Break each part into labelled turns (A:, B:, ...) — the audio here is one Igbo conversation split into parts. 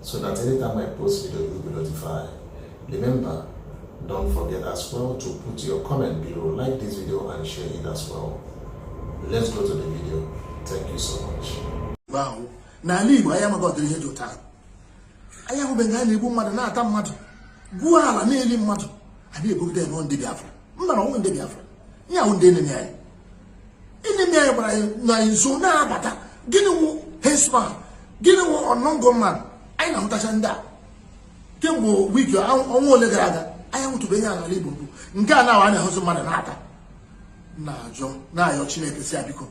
A: so that anytime I post video, you'll be notified. Remember, don't forget as well to put your comment below, like this video and share it as well. Let's go to the video. Thank you so much.
B: Wow. N'ala Igbo, anyị amaghị ụdịrị ihe dị otu a. Anyị ahụbeghị nga a na-egbu mmadụ na-ata mmadụ, gwuo ala na-eli mmadụ, a na-ebugide ya na ọ wụ ndị Biafra. Mba na ọ wụghị ndị Biafra. Ihe a wụ ndị enemi anyị. ndị mere gbara ọsọ na-abata gịnị wụ herdsman gịnị wụ unknown gunman anyị na-ahụtacha ndị a kemgbe wiki ọnwa ole gara aga anyị nwetụbeghị ya n'ala Igbo mbụ nga a na-awa na-ahụzi mmadụ na-ata na-ajụ na-ayọ Chineke sị ya biko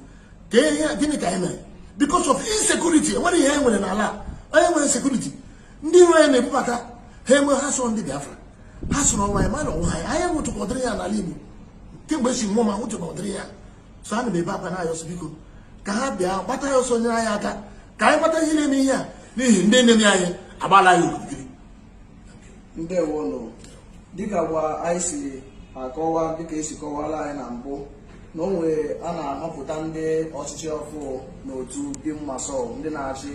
B: gịnị ka anyị mere because of insecurity enwere ihe anyị nwere n'ala anyị nwere insecurity ndị iro anyị na-ebubata ha emee ha sị ọ wụ ndị Biafra ha sị na ọ wụ anyị mana ọ wụghị anyị anyị ahụtụkwa ụdịrị ya n'ala igbo kemgbe e si mụọ m ahụtụkwa ụdịrị ya so ana m ebe akwa na-ayọ sị biko ka ha bịa gbata anyị ọsọ nyere anyị aka ka anyị gbata ihe na-eme ihe a n'ihi ndị enemi anyị agbaala anyị
C: okirikiri ndewonụ dịka gwa anyị si akọwa dịka esi kọwara anyị na mbụ na ọnwa a na-amapụta ndị ọchịchị ọfụụ n'otu BIM MASSOB ndị na-achị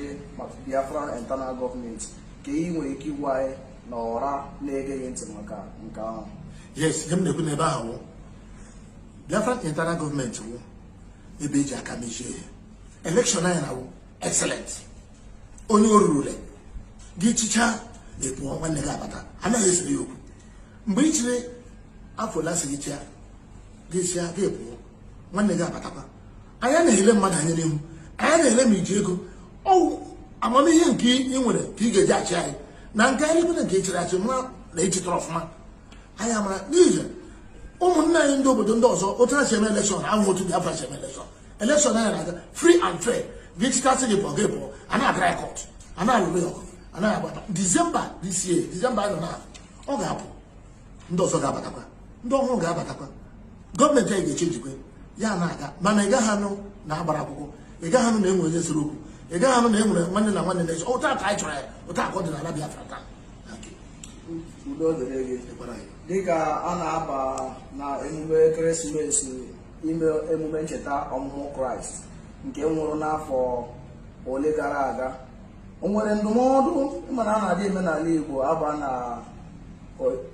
C: Biafra internal gọọmenti kee ihe ị nwere ike ịgwa anyị na ọra na-ege gị ntị maka nke ahụ yes ihe m na-ekwu
B: n'ebe ahụ wụ Biafra internal gọọmenti wụ ebe eji aka mechie ihe elekshọn anyị na-awụ excellent onye o rurule gị chịchaa na-apụ nwanne gị abata anaghị esere ya okwu mgbe ị chịrị afọ ole asị gị chịa gị chịa gị pụọ nwanne gị abatakwa anaghị ele mmadụ anya n'ihu anaghị ele ma i ji ego ọ wụ amamihe nke ị nwere ka ị ga-eji achị anyị na nke anyị nwere nke ị chịrị achị mara na ị chịtara ọfụma anyị amara n'ihi ụmụnne anyị ndị obodo ndị ọzọ otu ha si eme elekshọn awụghị otu Biafra si eme elekshọn elekshọn anyị na-aga free and fair gị chịtasị gị pụọ gị pụọ anaghị agara ya kọt anaghị alụrụ ya ọgụ a na-abata disemba this year disemba anyị nọ na ọ ga-apụ ndị ọzọ ga-abatakwa ndị ọhụrụ ga-abatakwa gọọmenti anyị ga-echenjikwa ya na-aga mana ị gaghị anụ na a gbara akwụkwọ ị gaghị anụ na enwere onye sere okwu ị gaghị anụ na e nwere nwanne na nwanne na-ese otu a ka anyị chọrọ ya otu a ka ọ dị n'ala Biafra
C: taa udo dịrị gị dịka a na-aba na emume ekeresimesi ime emume ncheta ọmụmụ kraịst nke nwụrụ n'afọ ole gara aga o nwere ndụmọdụ ị ma na a na-adị eme n'ala Igbo a baa na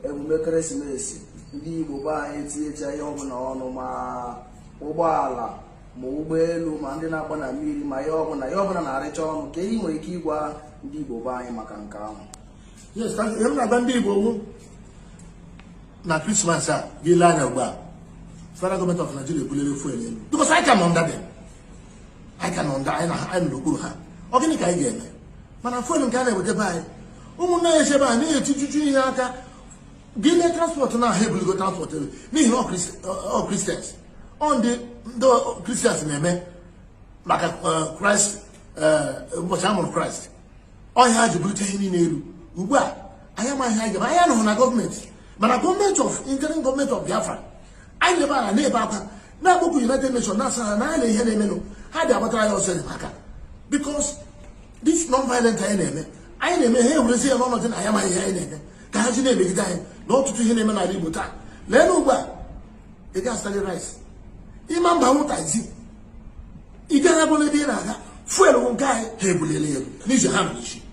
C: emume ekeresimesi ndị Igbo be anyị etinyecha ihe ọbụla ọnụ ma ụgbọala ma ụgbọelu ma ndị na-agba na mmiri ma ihe ọbụla ihe ọbụla na-arịcha ọnụ kee ihe ị nwere ike ịgwa ndị Igbo be anyị maka nke ahụ
B: ihe m na-agwa ndị Igbo wụ na krismas a gị lee anya ugbu a federal gọọmenti of Nigeria ebulere fuel elu because I come under them anyị ka nọ ndị anyị na ha anyị nọ n'okpuru ha ọ gịnị ka anyị ga-eme mana fuel nke a na-eweta be anyị ụmụnna ya echebe a na-etijuju ihe aka gị lee transpọtụ na ha ebuligo transpọtụ elu n'ihi na ọ Christ- ọ- ọ kristians ọ ndị ndị kristians na-eme maka eh, kraịst eh, ụbọchị a mụrụ kraịst ọ ihe a ha ji bulite ihe niile elu ugbu a anyị amaghị ihe anyị ga-eme anyị anọghị na gọọmenti mana gọọmenti of interim gọọmenti of biafra anyị lebe ala na-ebe akwa na-akpọku United Nations na-asị ha n'anya ihe na-emenụ ha bịa gbatara anyị ọsọ enyemaka because this non-violent anyị na-eme anyị na-eme ha ewerezi ya n'ọnọdụ na anyị amaghị ihe anyị na-eme ka ha ji na-emegide anyị na ọtụtụ ihe na-eme n'ala Igbo taa lee na ugbu a ị ga-azụli rice ị ma abanwu taxi ị gaghị abụla ebe ị na-aga fuel nke anyị ha ebulile elu n'izu ha nọ n'isi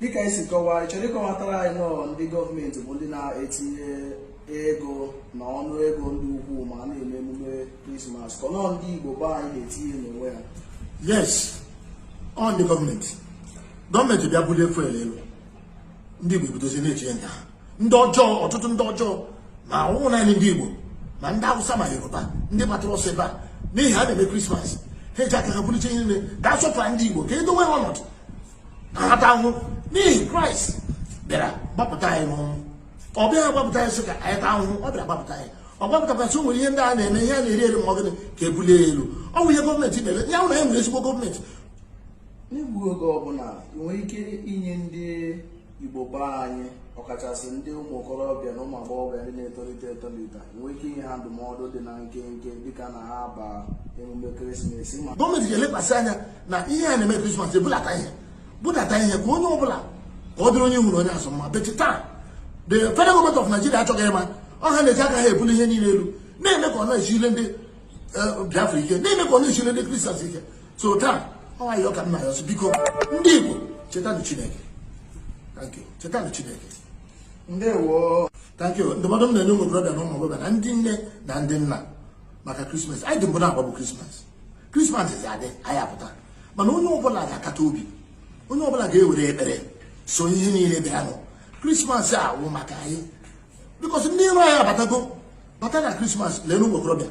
C: dịka i si kọwaa ị chọrọ ịkọwatara anyị na ọ ndị gọọmenti bụ ndị na-etinye ego na ọnụ ego dị ukwuu ma a na-eme emume krismas ka na ọ ndị igbo be anyị na-etinye n'onwe ha yes
B: ọ ndị gọọmenti gọọmenti bịa bulie fuel elu ndị igbo ebidozi na-etinye nke ha ndị ọjọọ ọtụtụ ndị ọjọọ ma ọ wụghị naanị ndị igbo ma ndị awụsa ma yoruba ndị gbatara ọsọ ebe a n'ihi ha na-eme krismas ha eji aka ha buliche ihe niile ka a sọpụrụ ndị igbo ka e dowe ha ọnọdụ ata ahụhụ n'ihi kraịst bịara gbapụta anyị n'ọnwụ ọ bịaghị gbapụta anyị sị ka anyị taa ahụhụ ọ bịara gbapụta anyị ọ gbapụtakwasị nwere ihe ndị a na-eme ihe a na-eri eri ma ọ gịnị ka e bulie ya elu ọ bụ ihe gọọmenti na-eme ya wụ na e nwere ezigbo
C: gọọmenti n'egbughị oge ọ bụ na i nwere ike inye ndị igbo be anyị ọkachasị ndị ụmụ okorobịa na ụmụ agbọghọbịa ndị na-etolite etolite nwere ike inye ha ndụmọdụ dị na nkenke dịka na ha ba emume ekeresimesi ma gọọmenti ga-elekwasị
B: anya na ihe a na-eme krismas ebudata ihe budata ihe ka onye ọbụla ka ọ dịrị onye ihu na onye azụ mma but taa the federal government of Nigeria achọghị ịma ọ ha na-eji aka ha ebuli ihe niile elu na-eme ka ọ na-esili ndị eh, Biafra ike na-eme ka ọ na-esili ndị Kristians ike so taa ọ ayịyọ ka m na-ayọ sị biko ndị Igbo chetanụ Chineke thank you chetanụ Chineke ndewo
C: thank you
B: ndụmọdụ m na-enye ụmụ okorobịa na ụmụ agbọghọbịa na ndị nne na ndị nna maka krismas anyị dị mbụ na-agbabu krismas krismas zi adị anyị apụta mana onye ọbụla ga-akata obi onye ọbụla ga-ewere ekpere soo ihe niile bịanụ krismas a wụ maka anyị bikọs ndị iro anyị abatago bata na krismas lee n'ụmụ okorobịa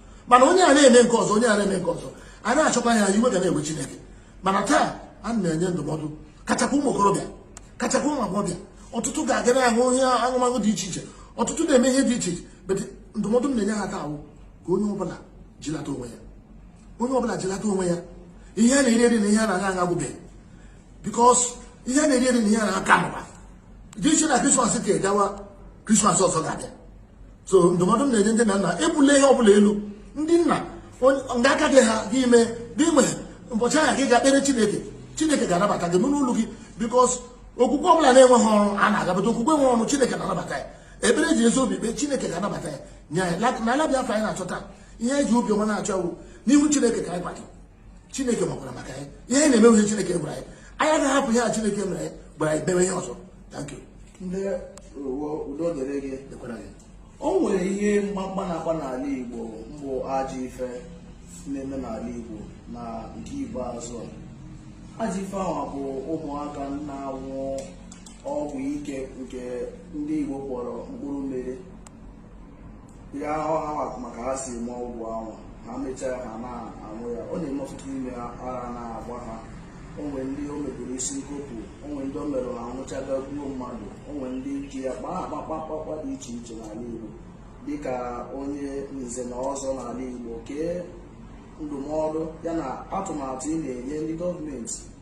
B: mana onye a na-eme nke ọzọ onye a na-eme nke ọzọ a na-achọkwa ya iwe ga na-ewe Chineke mana taa a na-enye ndụmọdụ kachakwa ụmụ okorobịa kachakwa ụmụ agbọghọbịa ọtụtụ ga-aga na-aṅụ ihe aṅụmaṅụ dị iche iche ọtụtụ na-eme ihe dị iche iche but ndụmọdụ m na-enye ha taa wụ ka onye ọbụla jilata onwe ya onye ọbụla jilata onwe ya ihe a na-eri eri na ihe a na-aṅụ aṅụ agwụbeghị bikos ihe a na-eri eri na ihe a na-aka mụba dị n'ihi na krismas a gawa krismas ọzọ ga-abịa so ndụmọdụ m na-enye ndị nne na nna ebula ihe ọbụla elu ndị nna nga aka gị ha gị ime iwe n'ụbọchị ahụ gị ga-ekpere chineke chineke ga-anabata gị n'ụlọ gị because okwukwe ọbụla na-enweghị ọrụ anaghị anabata okwukwe nwe ọrụ chineke na-anabata ya ekpere ji ezi obi kpee chineke ga-anabata ya nye anyị na ala Biafra anyị na-achọta ihe eji obi ọma na-achọ n'ihu chineke ka anyị kwado chineke makwara maka ya ihe anyị na-eme wụ ihe chineke gwara anyị anyị agaghị hapụ ihe a chineke mere anyị gwara anyị mewe
C: ihe ọzọ thank you ndeewo udo dịrị gị o nwere ihe mkpamkpa na-akpa n'ala igbo mbụ ajọ ife na-eme n'ala igbo na nke ikpeazụ a ajọ ife ahụ bụ ụmụaka na-anwụ ọgwụ ike nke ndị igbo kpọrọ mkpụrụ mmiri ya ahụ ha wa ma ka ha si eme ọgwụ ahụ ha mechaa ha na-anwụ ya ọ na-eme ọtụtụ ime ha ara na-agba ha o nwe ndị o mebiri isi nkopụ o nwe ndị o mere ha nwụchaa ga gbuo mmadụ o nwe ndị ji ya kpaa akpakpakpakpa dị iche iche n'ala Igbo dịka onye nze na ọzọ n'ala Igbo kee ndụmọdụ yana atụmatụ ị na-enye ndị gọọmenti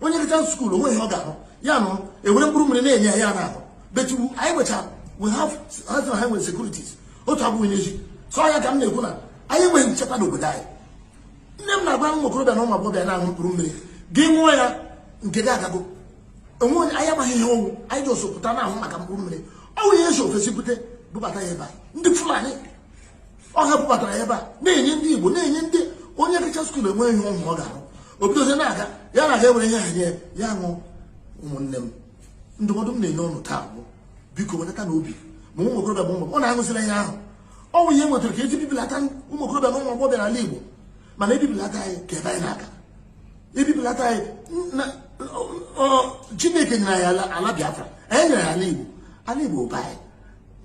B: onye gachaa school o nweghị ihe ọ ga-arụ ya nụ ewere mkpụrụ mmiri na-enye ya na-aṅụ but anyị nwechara we have health and highway securities otu abụghị n'ezi so ya ka m na-ekwu na anyị enweghị nchekwa n'obodo anyị ihe m na-agwa ụmụ okorobịa na ụmụ agbọghọbịa na-aṅụ mkpụrụ mmiri gị ṅụọ ya nke gị agago o nwe onye anyị amaghị ihe ọ wụ anyị ji osopụta na-ahụ maka mkpụrụ mmiri ọ wụ ihe e si ofesi bute bubata ya ebe a ndị fulani ọ ha bubatara ya ebe a na-enye ndị igbo na-enye ndị onye gachaa school enweghị ihe ọ wụ ọ ga-arụ o bidozie na-aga ya na-aga e were ihe a nye ya ṅụ ụmụnne m ndụmọdụ m na-enye ụnụ taa bụ biko wedatanụ obi ma ụmụ okorobịa ma ụmụ ụnụ aṅụzila ihe ahụ ọ bụ ihe e wetara ka e ji bibilata ụmụ okorobịa na ụmụ agbọghọbịa n'ala igbo mana ebibilata anyị ka ebe anyị na-aga ebibilata anyị chineke nyere anyị ala biafra ya nyere anyị ala igbo ala igbo bụ anyị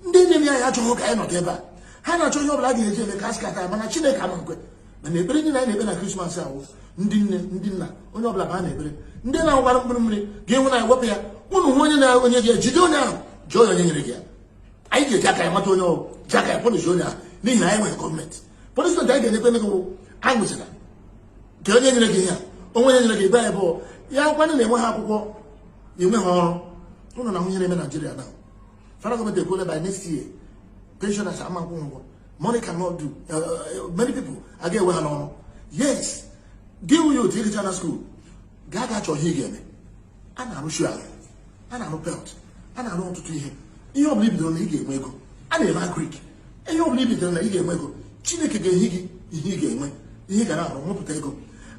B: ndị nwere ya ha achọghị ka anyị nọdụ ebe a ha na-achọ ihe ọbụla a ga-eji eme ka a scatter ya mana chineke ama nkwe mana ekpere niile anyị na-ekpe na krismas ahụ ndị nne ndị nna onye ọbụla baa n'ekpere ndị na-awara mkpụrụ mmiri ga-enwe na wepụ ya ụnụ hụ onye na-enye gị ya jide onye ahụ jụọ ya onye nyere gị ya anyị ga-eji aka anyị mata onye ọ wụ ji aka anyị punish onye ahụ n'ihi na anyị enweghị gọọmenti punishment anyị ga-enyekwa gị wụ aṅụzila nke onye nyere gị ya o nwe onye nyere gị ebe anyị bụ ya nkwanye na-enwe ha akwụkwọ enwe ha ọrụ ụnụ na-anụ ihe na-eme naijiria na Federal government ekwuola by next year pensioners ama nkwụ ụgwọ money cannot do uh, uh, many people aga ewe ha n'ọrụ yes gị wụ youth ị gachaa na school gaa gaa chọọ ihe ị ga-eme a na-arụ shoe ala a na-arụ belt a na-arụ ọtụtụ ihe ihe ọ bụla i bidoro na ị ga-enwe ego a na-eme agrik ihe ọbụla ị believe na ị ga-enwe ego chineke ga-enye gị ihe ị ga-enwe ihe ị ga na-arụ nwepụta ego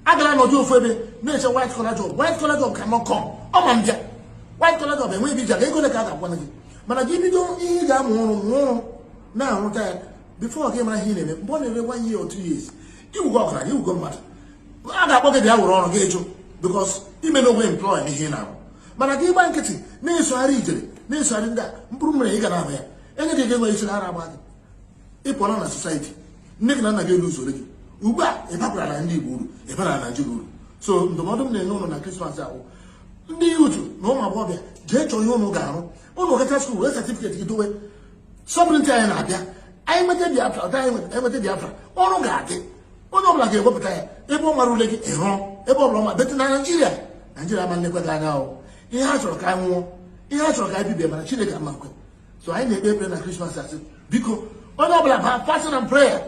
B: agala nọdụ ofu ebe na-eche white collar job white collar job cannot come ọ ma mbịa white collar job enweghị ebe i ji aga ego ole ka a ga-akwụana gị mana gị bido ihe ị ga-amụ ọrụ mụọ ọrụ na-arụta ya bifọ gị mara ihe ị na-eme mgbe ọ na-eru one year or two years ị wụgo ọgaranya ị wụgo mmadụ a ga-akpọ gị bịa were ọrụ gị ajụ bikos ime n'ogbe employ ihe ị na-arụ mana gị gba nkịtị na-esogharị ijere na-esogharị ndị a mkpụrụ mmiri ị ga na-aṅụ ya enye gị ga-enwe isi ara agba gị ị pụọla na society nne gị na nna gị eluzuola gị ugbu a ị bakwara na ndị Igbo uru ị bara na Naịjirịa uru so ndụmọdụ m na-enye ụnụ na krismas a wụ ndị youth na ụmụ agbọghọbịa jee chọọ ihe ụnụ ga-arụ ụnụ gacha skuul wee satifiketi gị dowe sovereignty anyị na-abịa anyị nweta biafra ọda anyị enweta biafra ọrụ ga-adị onye ọbụla ga-ewepụta ya ebe ọ mara ule gị ịhụrụ ebe ọbụla ọma better than naijiria naijiria ma nlekwa gị anya ahụ ihe ha chọrọ ka anyị nwụọ ihe ha chọrọ ka anyị bibie mana chineke ama nkwe so anyị na-ekpe ekpere na krismas a sị biko onye ọbụla baa fasting and prayer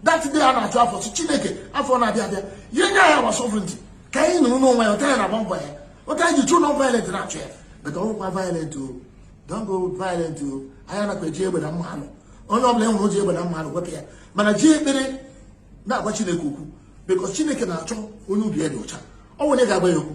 B: that day a na-achụ afọ sị chineke afọ na-abịa abịa ya nye anyị our sovereignty ka anyị nọrọ n'onwe anyị otu anyị na-agba mbọ ya otu anyị ji through non violent na-achụ ya but don't go violent o don't go violent o anyị anakwa eji egbe na mma anụ onye ọbụla e nwere o ji egbe na mma anụ ọgụ wepụ ya mana ji ekpere na-agwa chineke okwu because chineke na-achọ onye obi ya dị ọcha ọ nwere ga-agwa ya okwu